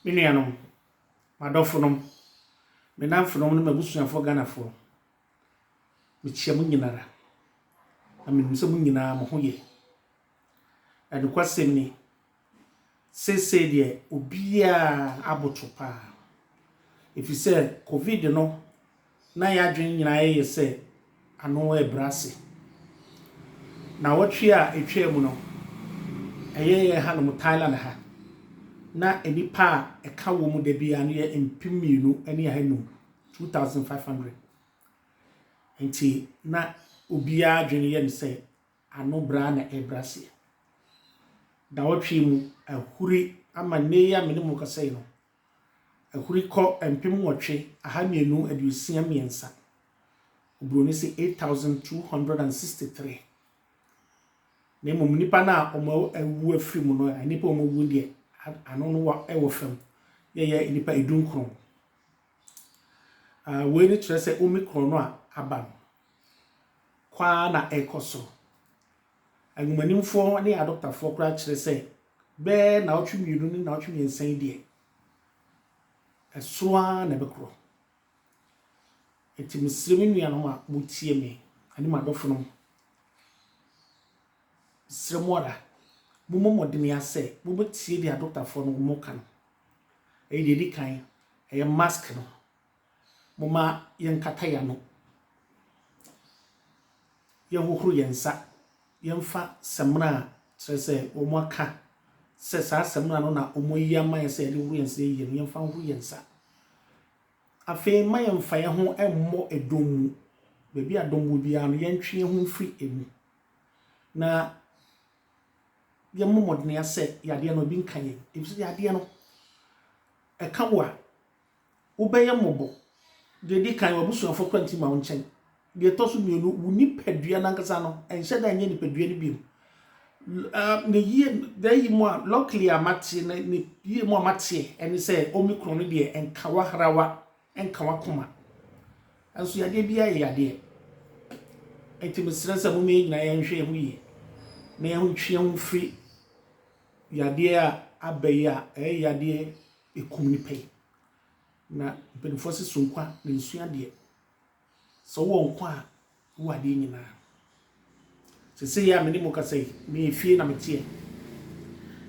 Me nuanom, m'adɔfonom, me nnamfonom ne m'abusuafoɔ Ghanafoɔ, mekyea mo nyinara, na menim sɛ mo nyinaa mo ho yɛ. Na nokwasɛm ni, seesei deɛ obiara aboto paa, ɛfiri sɛ Covid no na yɛn adwene nyinaa yɛyɛ sɛ ano rebrɛ ase. Nnawɔtwe a ɛtwaam no, ɛyɛ yɛn hanom Thailand ha, na nnipa a ɛka wɔ mu da biara no yɛ mpem mmienu ne ahanum, 2,500. Enti na obiara adwene yɛ no sɛ ano brɛ ara na ɛrebrɛ ase. Nnawɔtwe mu ahuri ama nnɛ yi a me ne mo rekasa yi no, ahuri kɔ mpem nwɔtwe, aha mmienu aduosia mmiɛnsa, oburoni se eight thousand two hundred and sixty three, na mmom nnipa no a wɔawu afiri mu no, nnipa a wɔawu deɛ ano no wɔ fam yɛyɛ nnipa edu nkron. Uh, wei ne kyerɛ sɛ omicron no a aba no kwaa na ɛrekɔ soro Anwomanimfoɔ ne adɔktafoɔ koraa kyerɛ sɛ bɛyɛ nnawɔtwe mmienu ne nnawɔtwe mmiɛnsa yi deɛ, ɛsoro ara na ɛbɛkorɔ. Enti mesrɛ me nuanom a motie me ne m'adɔfonom, mesrɛ mo ara, mommɔ mmɔden ara sɛ mobɛtie deɛ adɔktafoɔ no wɔka no. Ɛyɛ deɛ ɛdi kan, ɛyɛ mask no, Momma yɛnkata yɛn ano, yɛnhohoro yɛn nsa, yɛmfa samina a kyerɛ sɛ wɔaka sɛ saa samina no na wɔayi ama yɛn sɛ yɛde horo yɛn nsa yie no, yɛmfa nhoro yɛn nsa. Afei mma yɛmfa yɛn ho mmɔ dɔm mu. Baabi a dɔm wɔ biara no, yɛntwe yɛn ho mfiri emu. Na yɛmmɔ mmɔden sɛ yadeɛ no ebi nka yɛn, efisɛ yadeɛ no ɛka wo a, Wobɛyɛ mmɔbɔ. Deɛ ɛdi kan, w'abusuafoɔ kora nti ma wo nkyɛn. Deɛ ɛtɔ so mmienu, wo nipadua no ankasa no, ɛnhyɛ da nyɛ nipadua no biom. Um, ne yie, deɛ yi mu a, luckily a mate, ne, ne yie mu a mateɛ, ɛne sɛ Omicron no deɛ ɛnka w'ahrawa, ɛnka w'akoma. Nso yadeɛ biara yɛ yadeɛ. Nti mesrɛ sɛ moma yɛn nyinaa yɛnhwɛ yɛn ho yie na yɛntwe yɛn ho mfiri yadeɛ a aba yi a ɛyɛ yadeɛ Ɛkum nnipa yi. Na mpanimfoɔ se so nkwa na nsu adeɛ. Sɛ wowɔ nkwa a, wowɔ adeɛ nyinaa. Sesei a me ne mo kasa yi, meyɛ fie na meteɛ.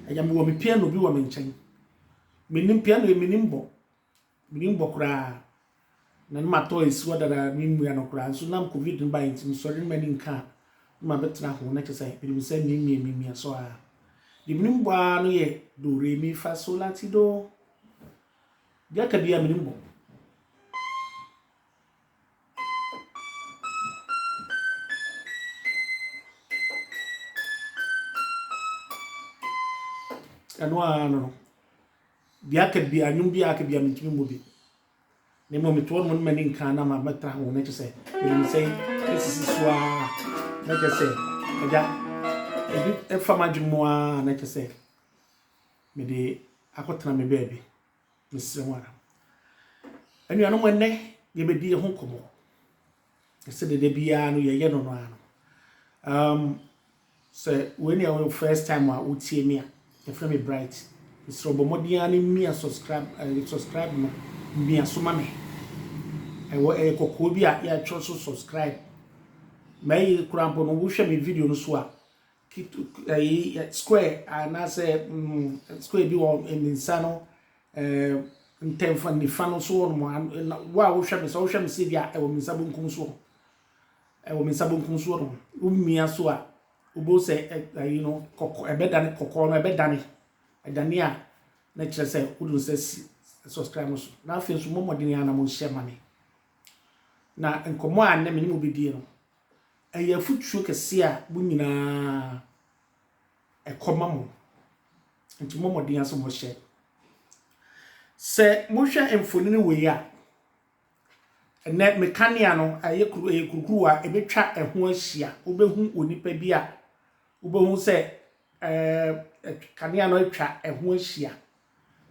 Agya, mewɔ me piano bi wɔ me nkyɛn. Menim piano yi, menim bɔ. Menim bɔ koraa. Na na matɔ asuwa dada a mimmua no koraa, nso na Covid no bae nti mesɔre no m'ani nka a, na mabɛtena ho, na kyerɛ sɛ minim sɛ mimmia mimmia so ara. Deɛ menim bɔ ara no yɛ do re mi fa so la ti do. Deɛ aka biara menim bɔ. ɛno ara no no deɛ aka biara nnwom biara aka biara mentumi mmɔ bi Na mmom metoɔ nom ne m'ani nkaa na ma mɛtra ho na kyɛ sɛ menim sɛn asisi so ara na kyɛ sɛ agya ebi ɛfa m'adwene mu ara na kyɛ sɛ mede akɔtena me baabi mesrɛ mu ara anuanom ɛnɛ yɛbɛdi yɛ ho nkɔmmɔ Sɛdeɛ da biara no yɛyɛ no no ara no. Um, sɛ wei ne ɛwɔ first time a wotie me a, yɛfrɛ me Bright. Mesrɛ ɔbɔ mmɔden ara no mia subscribe, uh, subscribe no, mia so ma me. Ɛwɔ ɛyɛ kɔkɔɔ bi a yɛatwerɛ so subscribe. Mɛyɛ kura mpo no, wohwɛ me video no so a, Square anaasɛ square bi wɔ ne nsa no ntɛmfa nifa no so hɔnom a, wo a wohwɛ me sɛ wohwɛ me sɛ bi a ɛwɔ me nsa benkum so hɔ. Ɛwɔ me nsa benkum so hɔnom. Womia so a, wobɛhu sɛ ayi no, kɔkɔ ɛbɛdane kɔkɔɔ no ɛbɛdane. Ɛdane a, na ɛkyerɛ sɛ wode wo nsa asi subscribe no so. Na afei nso, mmɔ mmɔden ara na monhyɛ ma me. Na nkɔmmɔ a nnɛ me ne mo bɛdie no, Ɛyɛ afutuo kɛseɛ a mo nyinaa ɛkɔ ma mo. Nti mo mmɔden ara sɛ mo hyɛ. Sɛ mo hwɛ mfonini wei a, ɛnɛ me kanea no ɛyɛ kuru ɛyɛ kurukuruwa ɛbɛtwa ɛho ahyia. Wobɛhu onipa bi a wobɛhu sɛ ɛɛ kanea no atwa ɛho ahyia.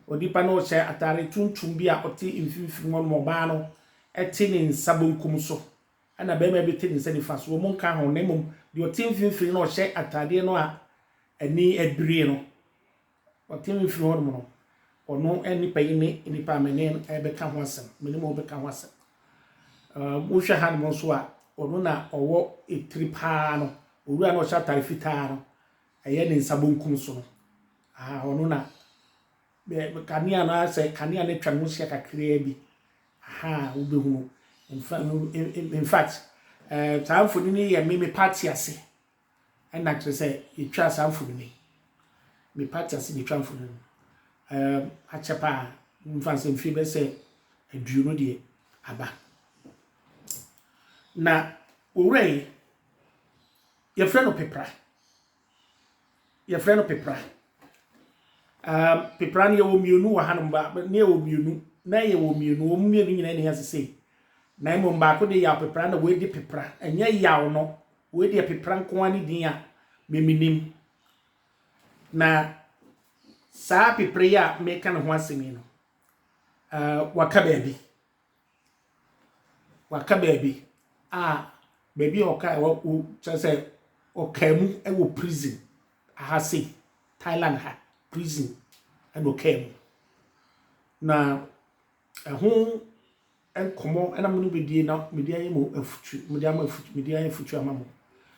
Onipa no ɔhyɛ ataare tuntum bi a ɔte mfimfini hɔ nom ɔbaa no ɛte ne nsa benkum so. ɛnna barima bi te ne nsa nifa so. Wɔnka ho, na mmom deɛ ɔte mfimfini na ɔhyɛ atadeɛ no a ani abire no, ɔte mfimfini hɔnom no, ɔno nipa yi ne nipa a me ne no rebɛka ho asɛm, me ne mo rebɛka ho asɛm. Wohwɛ hanom nso a, ɔno na ɔwɔ etiri paa no, owura na ɔhyɛ atare fitaa no, ɛyɛ ne nsa bonkum so no, ɔno na kanea no ayɛ sɛ kanea no atwa ne ho ahyia kakraa bi. Aha wobɛhunu in fact saa mfonini yi yɛ me me party ase ɛna kyerɛ sɛ yɛtwa saa mfonini me party ase na yɛtwa mfonini um, akyɛ paa mfa sɛ mfie bɛ sɛ aduonu deɛ aba na owura yi yɛfrɛ no pepra Yɛfrɛ no pepra. Um, pepra no yɛwɔ mmienu wɔ hanom ba, ne yɛwɔ mmienu, na yɛwɔ mmienu, wɔn mmienu nyinaa ni ase sei. Na mmom baako de yaw pepra na wei de pepra. Ɛnyɛ yaw no, wei deɛ pepra nko ara ne din a meminim. Na saa pepra yi a meka ne ho asɛm yi no, uh, waka baabi. Waka baabi a baabi a ɔkae wɔ wo kyerɛ sɛ ɔkaa mu wɔ prison ha sei, Thailand ha, prison ɛna ɔkaa mu. Na ɛho nkɔmmɔ ɛna mo ne bɛdie na mede ayɛ mo afutuo mede ama afutuo mede ayɛ afutuo ama mo.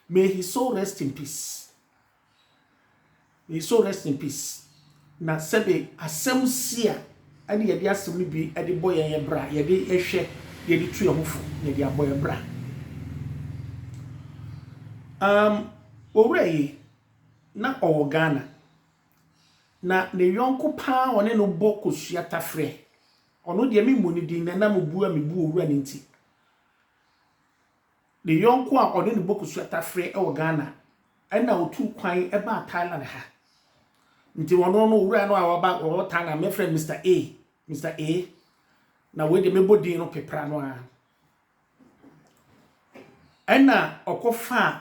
May his soul rest in peace. May soul rest in peace. Na sɛbe asɛm si a ɛne yɛde asɛm no bi de bɔ yɛn yɛ bra, yɛde hwɛ, yɛde tu yɛn ho fo, na yɛde abɔ yɛ bra. Um, owura yi, na ɔwɔ Ghana. Na ne yɔnko paa ɔne no bɔ kosua tafrɛ. Ɔno deɛ me mmɔ ne din na na mebua mebu owura no nti. Ne yɔnko a ɔne no bɔ kusuatafrɛ wɔ Ghana na otuu kwan baa Thailand ha. Nti ɔno no owura no a waba ɔwɔ Thailand mɛfrɛ no Mister A. Mister A. Na wei deɛ mɛbɔ din no pepra no ara. Ɛna ɔkɔfaa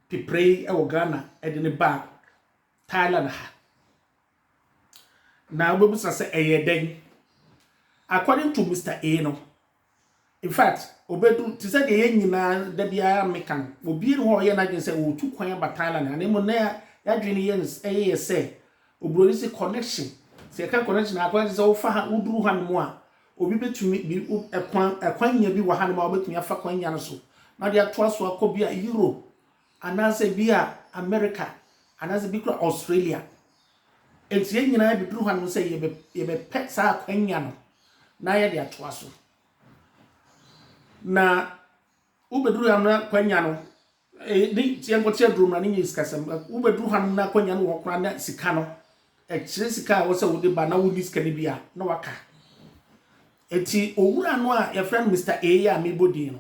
pepra yi wɔ Ghana de no baa Thailand ha. Na wobɛbusa sɛ ɛyɛ dɛn? According to Mister A no, In fact, obedu te sɛ deɛ yɛn nyinaa da biara meka no, obiara hɔ a ɔyɛ n'adwene sɛ ɔretu kwan aba Thailand ha, na mmom na yɛadwene no yɛn ɛyɛ yɛ sɛ oburoni si connection. Sɛ yɛka connection a, akɔyɛ te sɛ wofa ha woduru hanom a, obi betumi bi ɛkwan ɛkwan nya bi wɔ hanom a obetumi afa kwan nya no so na ɔde atoa so akɔ bi a Europe Anaasɛ bi a Amerika, anaasɛ bi koraa Australia. Enti yɛn nyinaa bɛduru hɔ anom sɛ yɛbɛ, yɛbɛpɛ saa akwanya no na yɛde atoa so. Na wobɛduru hanom na akwanya no, eh, ne teɛ nkɔteɛ duro mmara no nyɛ sikasɛm. Wobɛduru hanom na akwanya no wɔ hɔ koraa na sika no, ɛkyerɛ sika a ɛwɔ sɛ wode ba na wonni sika no bi a, na waka. Enti owura no a yɛfrɛ no Mr. A a mebɔ din no,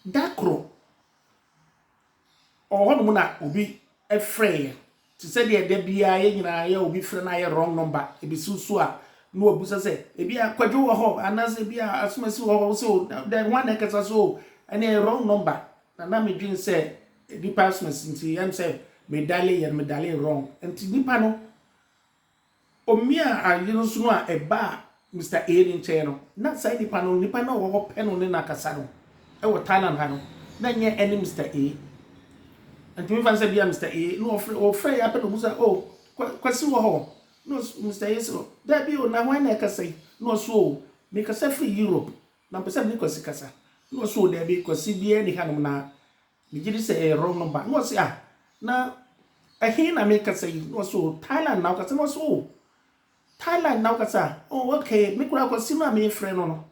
Da koro, ɔwɔ hɔnom na obi frɛeɛ. Te sɛ deɛ da biara yɛn nyinaa yɛ obi frɛ no ayɛ wrong number. Ebi so so a, na wabisa sɛ, ebi a kwadwo wɔ hɔ anaasɛ ebi a asomasi wɔ hɔ sɛ o, dɛ ho ana ɛkasa sɛ o, ɛne ɛyɛ wrong number. Na na medwene sɛ nipa asomasi nti yɛn sɛ medale yɛn medale wrong. Nti nipa no Omiaa ayere nso no a ɛbaa Mister A no nkyɛn no, na saa nipa no, nipa no a ɔwɔ hɔ pɛ no ne no akasa no, ɛwɔ Thailand ha no, na nyɛ ɛne Mister A. Ntumi nfa no sɛ bia Mister A na ɔfrɛ, ɔfrɛ yɛ apɛ na ɔbusa, oh, Kwa, Kwasi wɔ hɔ? Na ɔs, Mister A sɛ, daabi o, na hwan na ɛkasa yi? Na ɔs, oh, mekasa firi Europe, na mpɛ sɛ me ne Kwasi kasa. Na ɔs, oh, daabi, Kwasi biaa nni hanom na Megye di sɛ ɛyɛ wrong number. Na ɔse ah, na ɛhe na mekasa yi? Na ɔse oh, Thailand na wokasa. Na ɔse oh, Thailand na wokasa? Oh, okay. Me koraa Kwasi no a mefrɛ no no,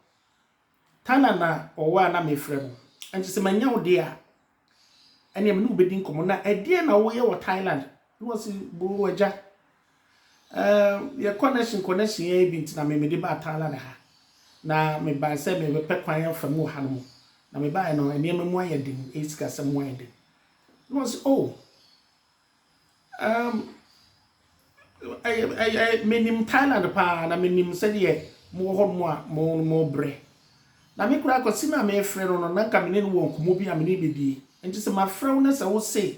Thailand na ɔwɔ a na mefrɛ no. Ɛnti sɛ manya wo deɛ a, ɛneɛ me ne wo bɛdi nkɔmmɔ. Na ɛdeɛ na woyɛ wɔ Thailand? Na ɔse bro, agya, Ɛɛm, yɛ kɔnɛhyen kɔnɛhyen ara bi nti na me mede baa Thailand ha. Na mebae sɛ merebɛpɛ kwan afa mu wɔ hanom. Na mebaeɛ no, nneɛma mu ayɛ den, ɛyɛ sikasɛm mu ayɛ den. Na ɔse, Oh, ɛɛm, ɛyɛ, ɛyɛ, menim Thailand paa, na menim sɛdeɛ mowɔ hɔnom a mo, mobrɛ. Na me koraa Kwasi no a merefrɛ no no, na anka me ne no wɔ nkɔmmɔ bi a me ne no bɛdie. Enti sɛ mafrɛ wo na sɛ wose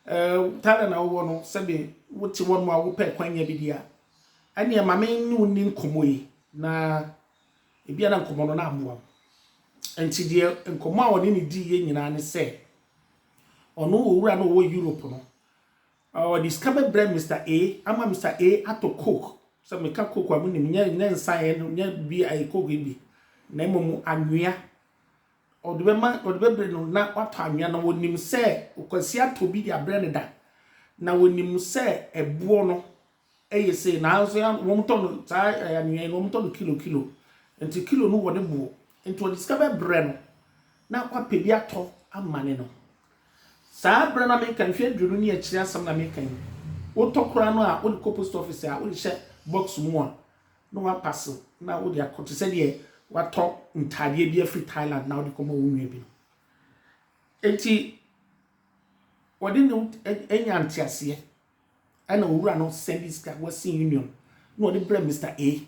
Ɛɛ, Tyler na wowɔ no, sɛbe wote hɔnom a wopɛ kwan nya biribi a, ɛnneɛ ma me ne wo nni nkɔmmɔ yi, na ebia na nkɔmmɔ no na aboa wo. Enti deɛ nkɔmmɔ a ɔne no diiɛ nyinaa ne sɛ, ɔno owura no a ɔwɔ Europe no, ɔde sika bɛbrɛ Mister A ama Mister A atɔ coke, sɛ meka coke a monim, nyɛ nyɛ nsaeɛ no, nyɛ bi ɛɛ coke yi bi, na mmom anwea, Ɔde bɛma, ɔde bɛbrɛ no na watɔ anwea, na ɔnim sɛ ɔkwasia tɔ bi de abrɛ no da, na ɔnim sɛ ɛboɔ no yɛ sei, nanso ya wɔtɔ no saa eh, anwea yi no wɔtɔ no kilo kilo, nti kilo no wɔ ne boɔ, nti ɔde sika bɛbrɛ no na wapɛ bi atɔ ama ne no. Saa berɛ na meka mfeɛ aduonu ne akyire asɛm na meka yi. Wotɔ koraa no a wode kɔ post office a wode hyɛ box mu a na woapasew na wode akɔ te sɛ deɛ woatɔ ntaadeɛ bi afiri Thailand na wode kɔma wo nua bi no. Enti wɔde no anya nteaseɛ ɛna owura no sɛnde sika Western Union na wɔde brɛ Mr. A.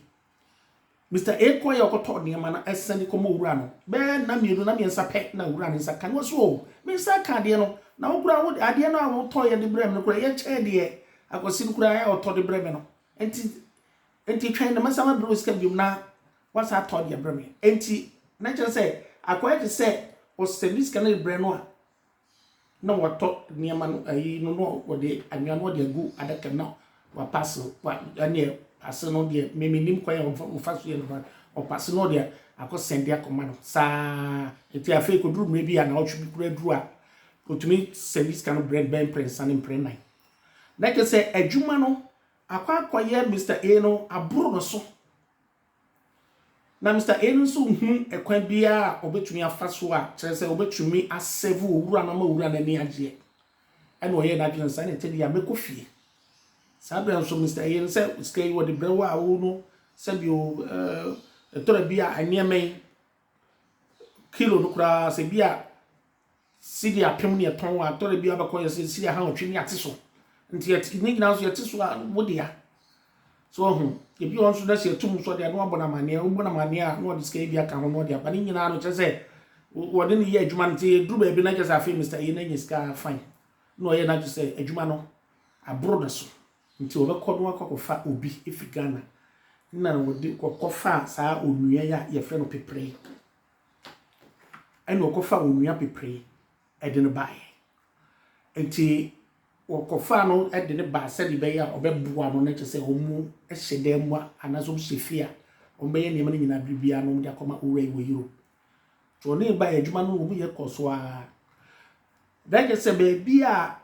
Mr. A kɔeɛ a ɔkɔtɔɔ nneɛma no ɛsɛnde kɔma owura no bɛyɛ nna mmienu nna mmiɛnsa pɛ na owura no nsa ka no wɔso o me nsa ka adeɛ no na wo koraa adeɛ no a wotɔeɛ de brɛ me no koraa ɛyɛ kyɛɛ deɛ akwasi no koraa a ɔtɔ de brɛ me no Enti, enti twɛn na mɛsan mabrɛ wo sika biom na woasan atɔ deɛ brɛ me. Enti, na kyerɛ sɛ akɔyɛ te sɛ ɔsɛnde sika no rebrɛ no a na watɔ nneɛma no ayi no na ɔde anwea no ɔde agu adaka mu na wapase wa ɛneɛ pase no deɛ memenim kwan a ɔfa so yɛ no ba ɔpase no ɔde akɔsɛnde akɔma no saa enti afei kɔduru mmerɛ bi a na ɔtwe bi kura duru a ɔtumi sɛnde sika no brɛ no bɛyɛ mprɛnsa ne mprɛ nan Na kyerɛ sɛ adwuma no, akɔ akɔyɛ Mister A no aboro no so. Na Mister A no nso nhunu ɛkwan biara a ɔbɛtumi afa so a kyerɛ sɛ ɔbɛtumi asɛve owura no ama owura no ani agyeɛ. Ɛna ɔyɛɛ n'adwene sɛ ɛne tebea mɛkɔ fie. Saa berɛ nso Mister A no sɛ sika yi wɔde brɛ wo a wo no sɛbio ɛtɔrɔ bi a nneɛma yi kilo no koraa sɛ bi a Cedi apem na yɛtɔn wɔ atɔre bi a abɛkɔ yɛ sɛ cedi ahanwɔtwe ne ate so nti yɛte ne nyinaa nso yɛte so a wo dea so ahu ebi wɔ nso na sɛ yɛtum nso ɔde ano abɔ no amaneɛ wobɔ no amaneɛ a na ɔde sika yi bi aka ho na ɔde aba ne nyinaa no kyerɛ sɛ wɔde no yɛ adwuma no nti ɛduru baabi na kyerɛ sɛ afei mr yɛ no anya sika fine na ɔyɛ no adwe sɛ adwuma no aboro da so nti wɔbɛkɔ no akɔ akɔfa obi ɛfiri ghana na wɔde kɔkɔfa saa onua yi a yɛfrɛ no pepere ɛna ɔkɔfaa onua pepere ɛde no baeɛ. Nti ɔkɔfaa no ɛde no baa sɛdeɛ ɛbɛyɛ a ɔbɛboa no na kyerɛ sɛ wɔhyɛ dan mu a anaasɛ wɔhyɛ fie a wɔbɛyɛ nneɛma no nyinaa bere biara na wɔde akɔma owura yi wɔ Europe. Nti wɔne no baeɛ adwuma no wɔyɛ kɔ so ara. Na kyerɛ sɛ baabi a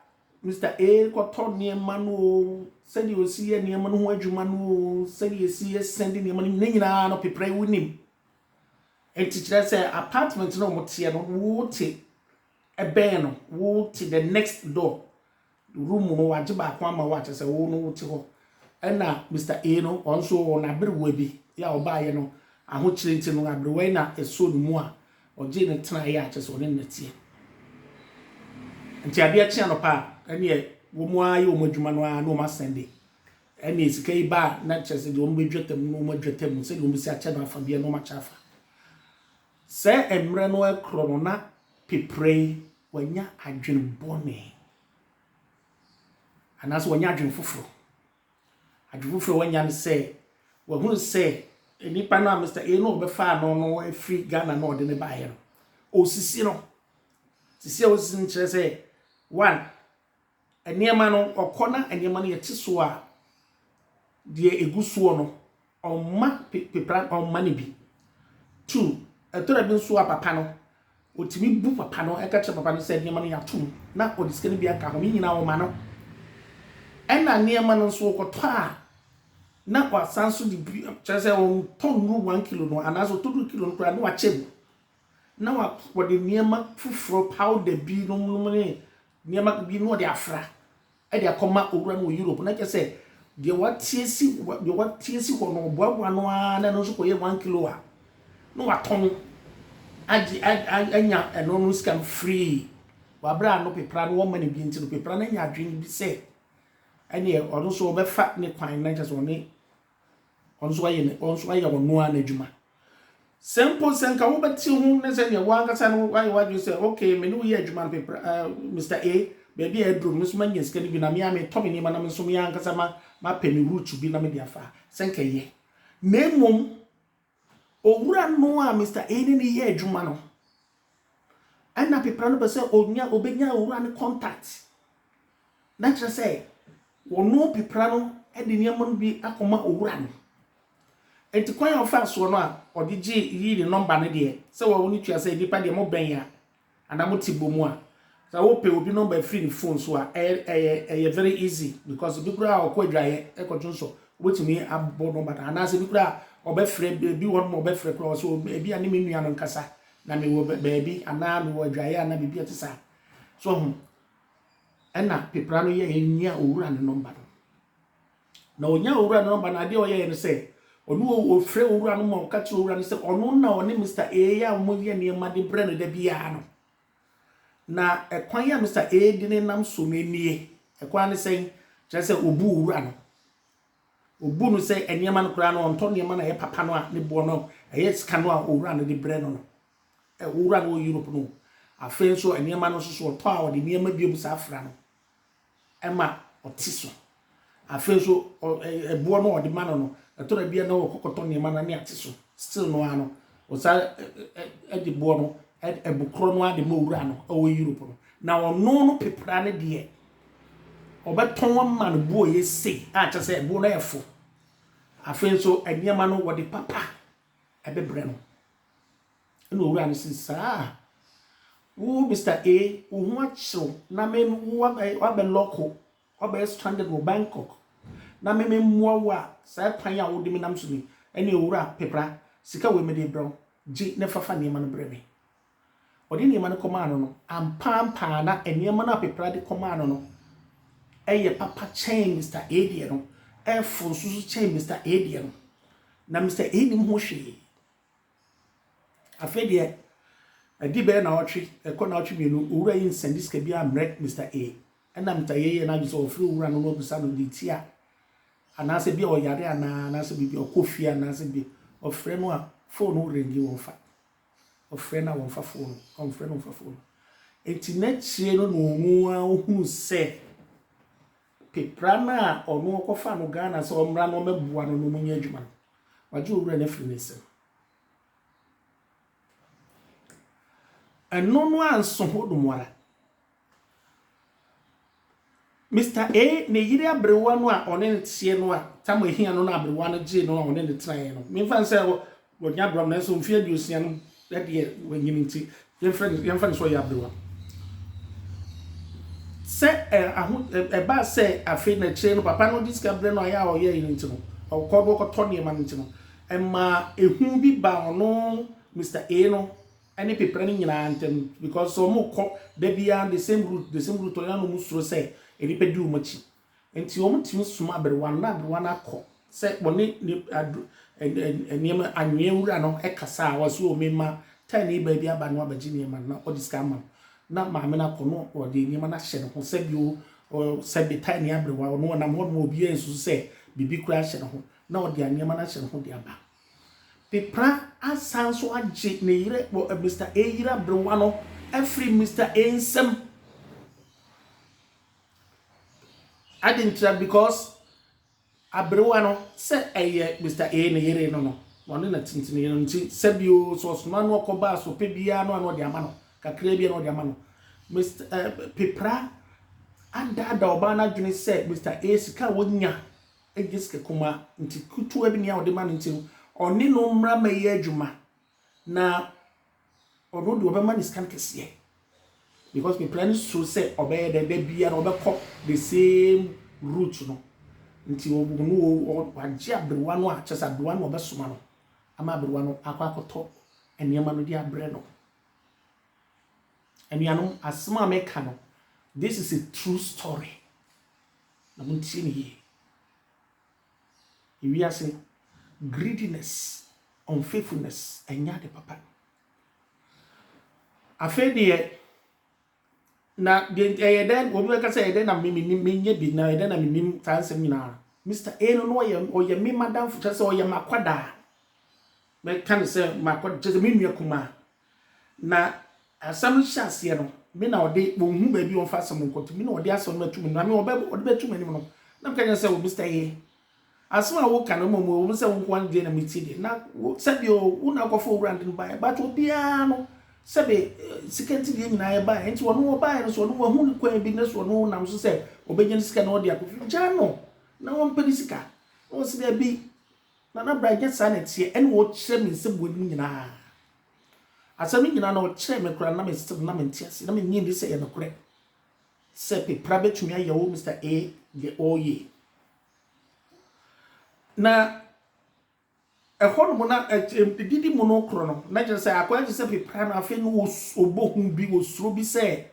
Mister A kɔtɔ nneɛma no o, sɛdeɛ ɔsi yɛ nneɛma no ho adwuma no o, sɛdeɛ ɔsi yɛ sɛn de nneɛma no ne nyinaa no pepere yi wonim. Nti kyerɛ sɛ apartment na ɔmo teɛ no wo te ɛbɛn no wo te the next door room no wagye baako ama wo akyɛ sɛ wo no wo te hɔ ɛna Mister A no wɔn nso wɔn aberewa bi yɛ a ɔbaayɛ no ahokyere nti no aberewa yi na ɛsɔ ne mu a ɔgye ne tena yɛ akyɛ sɛ ɔne ne teɛ nti adeɛ kye anɔpa a ɛneɛ wɔn ara yɛ wɔn adwuma no ara na wɔn asɛnde Ɛnneɛ sika yi ba a, na kyerɛ sɛ deɛ wɔbɛyɛ dwatam no, wɔanya dwatam no, sɛdeɛ wɔbɛsi akyɛ no afa biara no, wɔakyɛ afa. Saa mmerɛ no korɔ no, na Peprɛ yi, wanya adwene bɔne, anaasɛ wanya adwene foforɔ. Adwene foforɔ a wanya no sɛ, wahunu sɛ nipa no a Mister A no ɔbɛfaa no no afiri Ghana na ɔde no baeɛ no, ɔresisi no. Sisi a ɔresisi no kyerɛ sɛ, one, Nneɛma no, ɔkɔ na nneɛma no yɛ kyesoɔ a, deɛ ɛgu soɔ no, ɔmma pepra ɔmma no bi. Two, ɛtɔ da bi nso a papa no, ɔtumi bu papa no, ɛka kyerɛ papa no sɛ nneɛma no yɛato mu na ɔde sika no bi aka ho, ne nyinaa ɔma no. Ɛna nneɛma no nso ɔkɔtɔ a, na wasan nso de bi kyerɛ sɛ ɔntɔ nnuru one kilo no anaasɛ ɔtɔ duru kilo no koraa na wakyɛ mu na wɔde nneɛma foforɔ powder bi nom nom ne Nneɛma bi na ɔde afra de akɔma owura no wɔ Europe, na kyerɛ sɛ deɛ wateɛ si deɛ wateɛ si hɔ no ɔboaboa no ara na ɛno nso kɔyɛ one kilo a na watɔn agye anya ɛno no sika no free wabere ano pepra no wɔmma no bi nti no pepra no anya adwene bi sɛ ɛneɛ ɔno nso ɔbɛfa ne kwan na kyerɛ sɛ ɔne Ɔno nso ayɛ ne, ɔno nso ayɛ ɔno ara n'adwuma. Sɛ mpo sɛ nka wobɛte ho ne sɛ neɛ wankasa no wayɛ w'adwene sɛ okay me ne wo yɛ adwuma no pepra uh, Mr. A baabi a aduro no me nso manya sika no bi na me a metɔ me nneɛma na me nso me ankasa ma mapɛ me route bi na mede afa sɛ nka ɛyɛ na mmom Owura no a Mister A ne no yɛ adwuma no, ɛna pepra no pɛ sɛ onya obenya owura no contact, na kyerɛ sɛ wɔno pepra no de nneɛma no bi akɔma owura no. Nti kwan a ɔfaa soɔ no a ɔde gye yii ne nɔmba no deɛ, sɛ wɔwo no tua sɛ nnipa deɛ mobɛn a anaa mo te bɔ mu a, sɛ wopɛ obi nɔmba firi ne fon so a, ɛyɛ ɛyɛ very easy because obi koraa ɔkɔ adwaeɛ ɛkɔ dwo nso wobɛtumi abɔ nɔmba no anaasɛ ebi koraa ɔbɛfrɛ ebi wɔ hɔnom ɔbɛfrɛ koraa ɔsɛ ebi a ne me nua no nkasa na mewɔ baabi anaa mewɔ adwaeɛ anaa biribi ɛte saa so ho ɛna pepra no yɛ ɛnyia owura ne nɔmba no. Na ɔnyaa owura no nɔmba na adeɛ a ɔyɛeɛ no sɛ ɔne ɔfrɛ owura no ma ɔka kyerɛ owura no sɛ ɔno na ɔne Mister A yɛ a wɔyɛ nneɛma de brɛ no da biara no. Na ɛkwan a Mister A de ne nam so no nie. Ɛkwan ne sɛn? Kyerɛ sɛ ɔbu owura no. Ɔbu no sɛ nneɛma no koraa no ɔntɔ nneɛma no a ɛyɛ papa no a ne boɔ no ɛyɛ sika no a owura no de brɛ no no. Ɛ owura no wɔ Europe no. Afei nso nneɛma no nso so ɔtɔ a ɔde nneɛma biom saa fra no. ma ɔte so. Afei nso ɔ ɛ ɛboɔ no a wɔde ma no no, ɛtɔ da bi a na wɔkɔkɔtɔ nneɛma no na ate so. Still no ara no, wɔsan de boɔ no, ɛbo korɔ no ara de ma owura no wɔ Europe no. Na ɔno no pepra no deɛ, wɔbɛtɔn ama no boɔ yɛ sei a kyerɛ sɛ ɛboɔ no yɛ fo. Afei nso nneɛma no wɔde papa ɛbɛbrɛ no. Ɛna owura no se, Saa a, wo Mister A, wo ho akyew na me wo wabɛ lɔko, wabɛyɛ stranded wɔ Bangkok, na me me mmoa wo a, saa kwan a wode me nam so ni, ɛne owura Pepra, sika wei mede rebrɛ wo, gye na fa fa nneɛma no brɛ me. Ɔde nneɛma no kɔmaa no no, ampaanpaa na nneɛma no a Pepra de kɔmaa no no yɛ papa kyɛn Mister A deɛ no, ɛfo nso so kyɛn Mister A deɛ no. Na Mister A nim ho hwee. Afei deɛ, adi bɛyɛ nnawɔtwe, ɛrekɔ nnawɔtwe mmienu, owura yi nsɛnde sika biara mmrɛ Mister A. Ɛnna Mister A yɛɛ n'adwene sɛ ɔbɛfrɛ owura no na wabisa no deɛ enti a, anaasɛ ebia ɔyare anaa, anaasɛ biribi, ɔkɔ fie anaasɛ biribi. Ɔfrɛ no a, fon no ringi, wɔmfa. Ɔfrɛ no a, wɔmfa fon no, ɔmfrɛ no, ɔmfa fon no. Enti n'akyire no na ɔno ara ohuu sɛ. Pepra no a ɔno ɔkɔfaa no Ghana sɛ ɔmmra na ɔmmɛboa no na wɔnyɛ adwuma no, wagye owura no afiri ne nsam. Ɛno no anso ho dom ara. Mister A ne yere aberewa no a ɔne no teɛ no a tam a ɛhia no na aberewa no gyee no a ɔne no tenaeɛ no, memfa no sɛ Wanya aberewa mu nanso mfeɛ aduosia no deɛ wanyini nti yɛmfrɛ no yɛmfa no sɛ ɔyɛ aberewa. Sɛ aho ɛbaa sɛ afei na akyire no papa no de sika brɛ no ayɛ a ɔyɛ yi no nti no ɔkɔ do ɔkɔtɔ nneɛma no nti no ɛmaa ehu bi baa ɔno Mr. A no ɛne peprɛ no nyinaa ntɛm because wɔn kɔ da biara the same route the same route ɔyɛ na wɔn suro sɛ nnipa di wɔn akyi Enti wɔtumi soma aberewa no na aberewa no akɔ sɛ wɔne ne adu nneɛma anwea wura no kasa a wɔsi wɔn mma tɛnee baabi aba no abɛgye nneɛma no na ɔde sika ama no na maame no akɔ no ɔde nneɛma no ahyɛ ne ho sɛ bi o sɛ bi tɛnee aberewa ɔno ɔnam hɔ nom obi nsusu sɛ biribi kura ahyɛ ne ho na ɔde nneɛma no ahyɛ ne ho de aba pepra asan nso agye ne yere wɔ eh, mr a yere aberewa no afiri mr a nsam. Ade ntia because aberewa no sɛ ɛyɛ Mr. A ne yere no no ɔne na tintini yere nti sɛ bi o sɛ ɔsoma no ɔkɔ baa so pɛ biara no ano ɔde ama no kakra bi ano ɔde ama no Mr. Uh, eh, pepra adaada ɔbaa no adwene sɛ Mr. A sika a wonya ɛyɛ sika kuma nti kutuwa bi ne a ɔde ma no nti ɔne no mmra mɛyɛ adwuma Na ɔno deɛ ɔbɛma ne sika no kɛseɛ because mepra no suro sɛ ɔbɛyɛ dɛ da biara ɔbɛkɔ the same route no nti ɔno wagye aberewa no a kyɛ sɛ aberewa no ɔbɛsoma no ama aberewa no akɔ akɔtɔ nneɛma no de abrɛ no anuanom asɛm a mɛka no this is a true story na montie ne yie Wiase, greediness, unfaithfulness, ɛnyɛ ade papa. Afei deɛ, na deɛ nti- ɛyɛ dɛn obi bɛka sɛ ɛyɛ dɛn na me- me- me- menyɛ bi na ɛyɛ dɛn na menim saa nsɛm nyinaa. Mr. A no na ɔyɛ ɔyɛ me madamfo kyerɛ sɛ ɔyɛ m'akwadaa. Mɛka no sɛ m'akwadaa kyerɛ sɛ me nua kumaa. Na asɛm no hyɛ aseɛ no, me na ɔde, wɔnhu baabi a wɔmfa asɛm no nkɔto, me na ɔde asɛm no bɛto m'anim, na me a ɔde bɛto m'anim no, na meka kyerɛ sɛ, O Mister Yee, asɛm a woka no, mmom ɛwɔ mu sɛ wo nko ara na deɛ na metie deɛ, na sɛbe o, wo na wokɔfa owura no de no baeɛ, but obiara no, sɛbe sika nti na yɛn nyinaa yɛbaeɛ, enti ɔno ɔbaeɛ no, so ɔno wahu ne kwan bi, na so ɔno nam so sɛ ɔbɛnya ne sika na ɔde akɔfiri, gyaa no na ɔmpɛ ne sika, na ɔse daabi, Nana Bra ɛnyɛ saa na ɛteɛ, ɛna ɔkyerɛ me nsɛm wei nom nyinaa. Asɛm no nyinaa na ɔkyerɛɛ me koraa na me still na mente aseɛ, na mennye nni sɛ ɛyɛ nokorɛ sɛ pepra bɛtumi ayɛ wo Mister A deɛ ɔreyɛ yi. Na ɛhɔ nom na ɛdidi mu no korɔ no, na kyerɛ sɛ akɔyɛ te sɛ pepra no afei no ɔbɔ hu bi, ɔsuro bi sɛ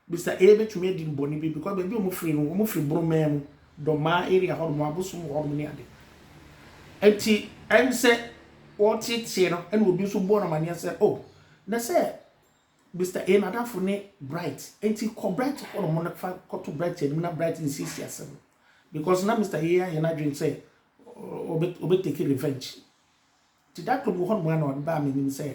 bisa ee bɛtumi adi bɔne bi because baabi a wɔn firi no wɔn firi Borɔmaa mu, Dɔmaa area hɔ nom, abosom wɔ hɔ nom ne ade. Nti ɛne sɛ wɔteetee no ɛna obi nso bɔɔ no amaneɛ sɛ oh na sɛ Mister A n'adafo ne Bright nti kɔ Bright hɔ nom na fa kɔto Bright anim na Bright nsiesie asɛm no because na Mister A ayɛ n'adwene sɛ ɔbɛ ɔbɛ take revenge. Nti da koro bi wɔ hɔnom ara na ɔde baa m'anim sɛ,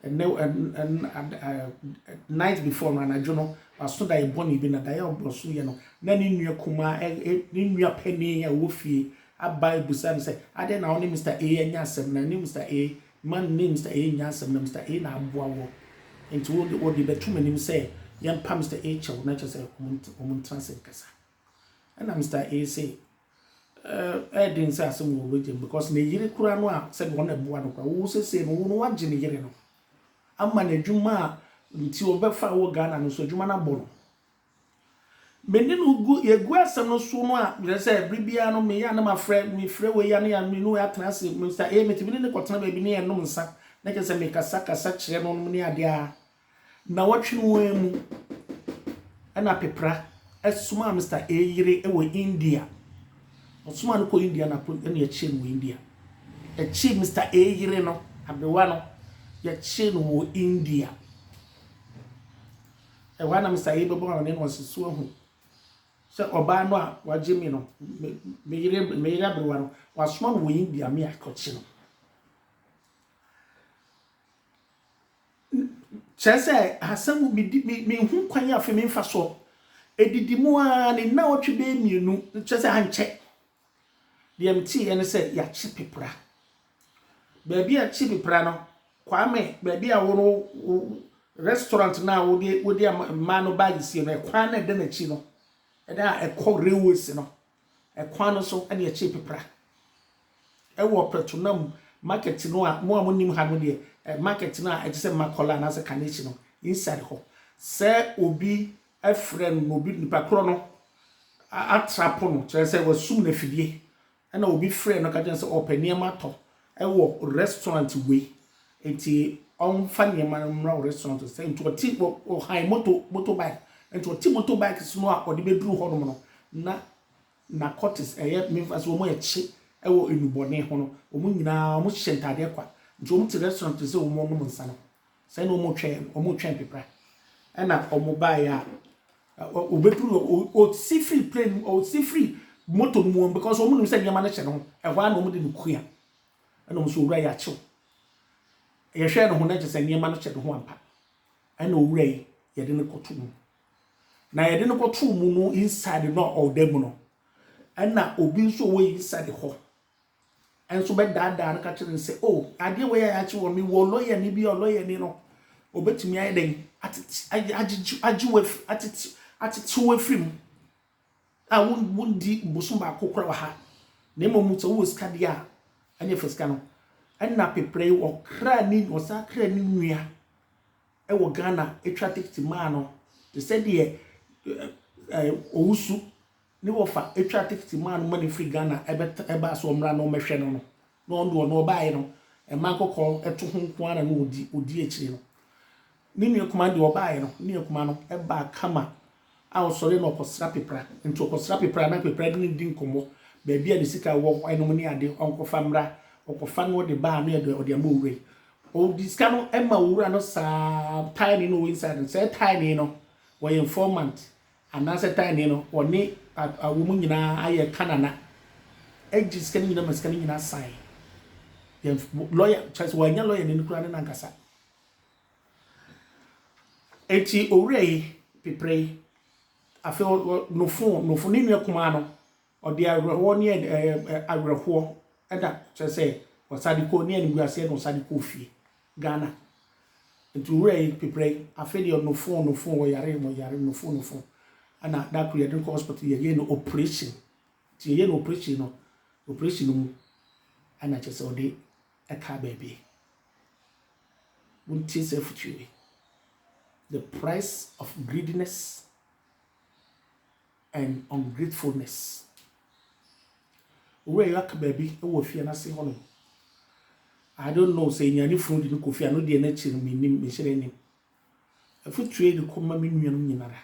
Ɛnnɛ, ɛ, ɛ, ɛ, ɛ, ɛ, night before no, anadwo no, waso daeɛ bɔne bi, na daeɛ a ɔsoeɛ no, na ne nua kumaa, ɛ, ɛ, ne nua panin a ɔwɔ fie aba abisa no sɛ, Adɛn na wo ne Mister A anya asɛm, na ne Mister A, mma me ne Mister A nnya asɛm, na Mister A na aboa woɔ? Nti wo, wɔde bɛto m'anim sɛ yɛmpa Mister A kyɛw, na kyerɛ sɛ wɔntena ase nkasa. Ɛna Mister A se, Eh, ɛyɛ den sɛ asɛm wɔ w'agya mu because ne yere kura no a sɛdeɛ ɔna boa no kora wo sesei no wo no wagye ne yere no ama no adwuma a nti ɔbɛfa wɔ Ghana no so adwuma no abɔ no mene no gu yɛgu asɛm no so no a yɛ sɛ bere biara no meyɛ a na mafrɛ mefrɛ wei a ne yɛ me ne wei atena ase Mr. A metumi ne ne kɔtena baabi ne yɛnom nsa na kyɛ sɛ mekasa kasa kyerɛ no nom ne adeɛ a Nnawɔtwe no ara mu na Pepra somaa Mister A yere wɔ India. Ɔsomaa no kɔɔ India na po ne yɛkyee no wɔ India. Yɛkyee Mister A yere no, aberewa no, yɛkyee no wɔ India. Ɛhɔ ara na Mister A bɛbɔ ahwene na ɔsese so ahu sɛ ɔbaa no a wagye me no, me, me yere, me yere aberewa no, wasoma no wɔ India me akɔkye no. Kyerɛ sɛ, asɛm mu medi me menhu kwan a afei memfa so. Edidi mu ara ne nnawɔtwe bɛyɛ mmienu, kyerɛ sɛ ankyɛ. Deɛ meteeɛ ne sɛ yɛakye pepra. Baabi a yɛakye pepra no, Kwame, baabi a wo no restaurant no a wode wode mmaa no bags sie no, ɛkwan no a ɛda n'akyi no, ɛda a ɛkɔ railways no, Ɛkwan no so na yɛkyee pepra wɔ Pratunam market no a mo a monim ha no deɛ, eh, market no a ɛte sɛ Makola anaasɛ Kanekyi no inside hɔ. Sɛ obi frɛ no na obi nipa korɔ no atrapo no, kyerɛ sɛ wasum no afidie, ɛna obi frɛ no ka kyerɛ no sɛ ɔpɛ nneɛma tɔ Ɛwɔ restaurant we nti ɔnfa nneɛma no mmra wɔ restaurant hɔ sɛ nti ɔte wɔ ɔhan moto moto bike nti ɔte moto bike so no a ɔde bɛduru hɔ nom no na narcotics ɛyɛ mefa sɛ wɔn ɛkye ɛwɔ enubɔne ho no wɔn nyinaa wɔn hyɛ ntaadeɛ kwa nti wɔn te restaurant sɛ wɔn nom nsa no. Sɛ na ɔmo twɛn no, ɔmo twɛn pepra. Ɛna ɔmo baeɛ a, ɔbɛduru hɔ, ɔsi firi plane mu, ɔsi firi moto no mu wɔn because ɔmo nim sɛ nneɛma no hyɛ ne ho. Ɛhɔ ara na ɔmo de no kua. Ɛna ɔmo sɛ owura yɛakyew. Yɛhwɛɛ ne ho na kyerɛ sɛ nneɛma no hyɛ ne ho ampa. Ɛna owura yi yɛde no kɔto mu. Na yɛde no kɔto mu no inside no a ɔda mu no, ɛna obi nso ɔwɔ inside hɔ. nso bɛdaadaa no ka kyerɛ no sɛ, o, adeɛ wei a yɛakye wɔ, mewɔ lɔyani bi a ɔlɔyani no, ɔbɛtumi ayɛ dɛn atete agye agye agye wo afiri atete atete wo afiri mu a won wondi bosom baako kora wɔ ha na mmom sɛ wowɔ sika deɛ a ɛne fa sika no ɛna peprɛ yi ɔkra ne ɔsan kra ne nua ɛwɔ Ghana atwa tikiti maa no te sɛ deɛ ɛ ɛ owusu ne wɔfa etwa tikiti maa no ma no firi Ghana ɛbɛt ɛbaa sɛ ɔmmra na ɔmmɛhwɛ no no na ɔno deɛ ɔno ɔbaeɛ no mmaa nkɔkɔɔ ɛto ho nko ara na ɔdi ɔdi akyire no ne nua kumaa no deɛ ɔbaeɛ no ne nua kumaa no ɛbaa kama a ɔsɔre na ɔkɔsra pepra nti ɔkɔsra pepra na pepra de ne di nkɔmmɔ baabi a ne sika wɔ ɛnom ne ade ɔnkɔfa mmra ɔkɔfa no ɔde baa no ɛde ɔde ama owura yi ɔdi sika no ɛma owura no saa tae ne no wɔ inside no sɛ tae ne no wɔyɛ informant Anaasɛ Taini no ɔne wɔn nyinaa ayɛ kanana gye sika no nyinaa ma sika no nyinaa sae. Yɛn lɔya kyerɛ sɛ wɔanya lɔyani no koraa ne no ankasa. Enti owura yi peperee. Afei ɔnofoo nofo ne nua kumaa no. Ɔde awerɛhoɔ ne awerɛhoɔ na kyerɛ sɛ ɔsane kɔ ne animguaseɛ na ɔsane kɔɔ fie. Ghana nti wura yi pepra yi afei deɛ nofo nofo wɔ yare wɔ yare nofo nofo ɛna da koro yɛde kɔ hospital yɛyɛ no operation nti yɛyɛ no operation no operation no mu ɛna kyerɛ sɛ ɔde ɛka baabi wontie sɛ afutuo yi the price of greediness and ungratefulness. Owura yi aka baabi wɔ fie no ase hɔnom. I don't know sɛ nya ne funu de no kɔ fie a no deɛ n'akyi no menim mehyɛ n'anim. Afotuo yi de kɔma me nuanom nyinara.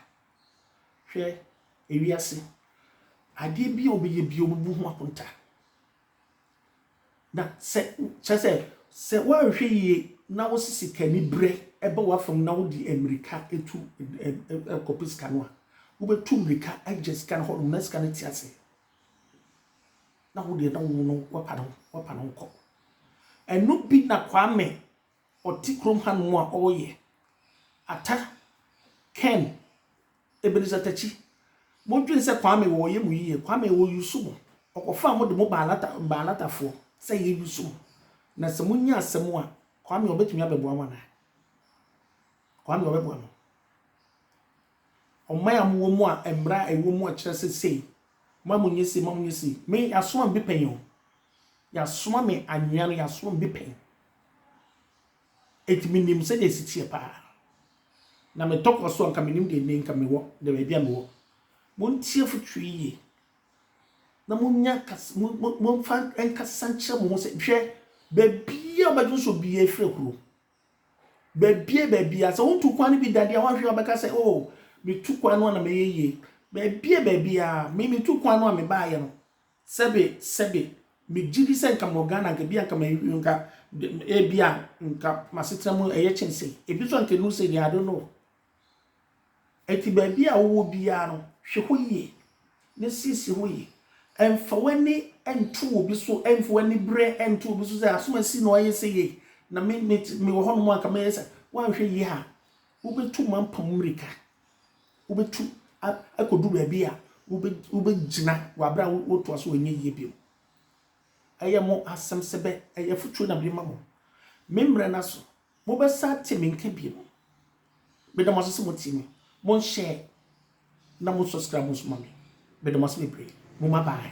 Hwɛ ewiase adeɛ bi a wobɛyɛ bi a wɔbɛbu ho akonta. Na sɛ, kyerɛ sɛ, sɛ woanhwɛ yie na wo se sikaniberɛ ba w'afam na wode mmirika tu kɔpɛ sika no a, wobɛtu mmirika agya sika no hɔnom na sika no te ase. Na wo deɛ na wo no wapa no wapa no nkɔ. Ɛno bi na Kwame ɔte kurom hanom a ɔreyɛ. Ata, Ken, Ebenezer Takyi, modwen sɛ Kwame wɔ ɔyɛ mo yiye, Kwame wɔ use mo, ɔkɔfaa mo de mo baa Lata, mbaa Lata foɔ sɛ yɛ use mo, na sɛ mo nya asɛm a Kwame ɔbɛtumi abɛboa mo anaa? Kwame ɔbɛboa mo. Ɔman a mo wɔ mu a mmara a ɛwɔ mu a ɛkyerɛ sɛ sei, ma mo nyɛ sei, ma mo nyɛ sei, me yasoma me bi pɛn o, yasoma me anwea no, yasoma me bi pɛn. Enti minim sɛnea esi teɛ paa. Na me ntɔkwaw so a, anka minim deɛ nnɛ anka mewɔ ne baabi a mewɔ. Montie afotu yi yie, na monnya kas mo mo momfa nkasa nkyerɛ mo ho sɛ, Hwɛ, baabiara a wobɛdwo so biara firi ahuro. Baabiara baabiara, sɛ wontu kwan no bi da deɛ a, woanhwɛ a wobɛka sɛ, Oh, metu kwan no a na mɛyɛ yie. Baabiara baabiara, me metu kwan no a mebaeɛ no, Sɛbe, sɛbe. Megye di sɛ nka mewɔ Ghana a, anka ebia nka me, nka ebia nka m'asetena mu ɛyɛ kyɛn sei. Ebi nso a nka enu sei deɛ, I don't know. Enti baabi a wowɔ biara no, hwɛ hɔ yie na siesie hɔ yie. Mfa w'ani nto obi so, mfa w'ani berɛ nto obi so sɛ asomasi na ɔyɛ sɛ yei, na me, me, mewɔ hɔnom a, anka mɛyɛ sɛ. Woanhwɛ yie a, wobɛtu m'ampam mmirika. wobɛtu akɔdu baabi a wobɛgyina wɔ aberɛ a wotoa so ɛnyɛ yie bio. Ɛyɛ mo asɛm sɛ bɛ, ɛyɛ afotuo na mede ma mo. Me mmerɛ no aso, mobɛsan ate me nka bio. Meda mo ase sɛ motie me. Monhyɛ na mo subscribe nso ma me. Meda mo ase bebree. Mo mma bye.